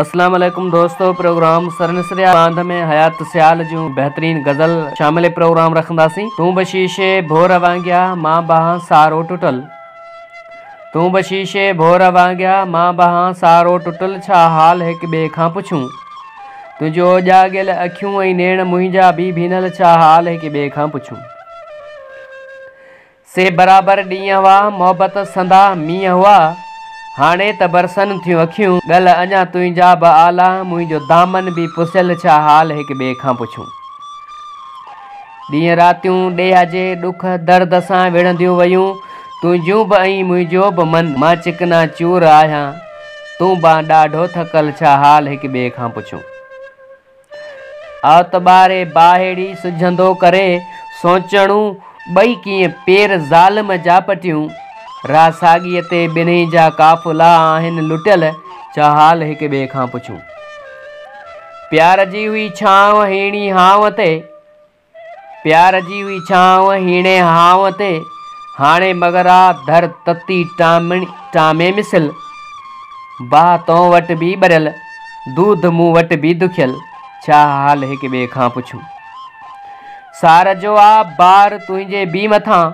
اسلام عليڪم دوستو پروگرام سرنسريا باند ۾ حيات سيال جون بهترين غزل شامل پروگرام رکنداسين تون به شيشي ڀور وانگيا مان بهان سارو ٽٽل تون به شيشي ڀور وانگيا مان بهان سارو ٽٽل ڇا حال هڪ ٻئي کان پڇون تنهنجو اجاڳيل اکيون ۽ نيڻ منهنجا به ڀينل ڇا حال هڪ ٻئي کان پڇون. سي برابر ڏينهن هئا، محبت سندا مينهن هئا، هاڻي ته برسن ٿيون اکيون، ڳل اڃا تنهنجا به آلا، منهنجو دامن به پسيل ڇا حال هڪ ٻئي کان پڇون. ڏينهن راتيون ڏيهه جي ڏک درد سان وڙهنديون ويون، تنهنجون به ۽ منهنجو به من، مان چڪنا چور آهيان، تون بانه ڏاڍو ٿڪل ڇا حال هڪ ٻئي کان پڇون. اعتباري باهيڙي سجهندو ڪري سوچڻون ٻئي ڪيئن پير ظالم جا پٽيون راهه ساڳيء تي ٻنهي جا قافلا آهن لٽيل ڇا حال هڪ ٻئي کان پڇون پيار جي هئي ڇانو هيڻي هانء تي پيار جي هئي ڇانو هيڻي هانء تي، هاڻي مگر آ ڌر تتي ٽامي مثل، باهه تون وٽ به ٻريل، دود مون وٽ به دکيل، ڇا حال هڪ ٻئي کان پڇون. سار جو آ بار تنهنجي به مٿان.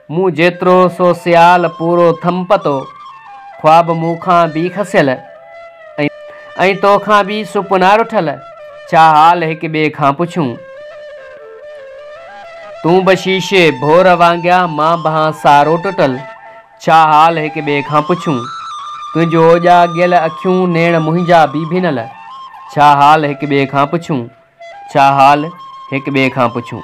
مون جيترو سو سيال پورو ٿم پتو، خواب مون کان بي کسيل ۽ تو کان بي سپنا رٺل، ڇا حال هڪ ٻئي کان پڇون. تون به شيشي ڀور وانگيان مان بهان سارو ٽٽل، ڇا حال هڪ ٻئي کان پڇون. تنهنجو اوڄا ڳيل اکيون نيڻ منهنجا بي ڀنل، ڇا حال هڪ ٻئي کان پڇون، ڇا حال هڪ ٻئي کان پڇون.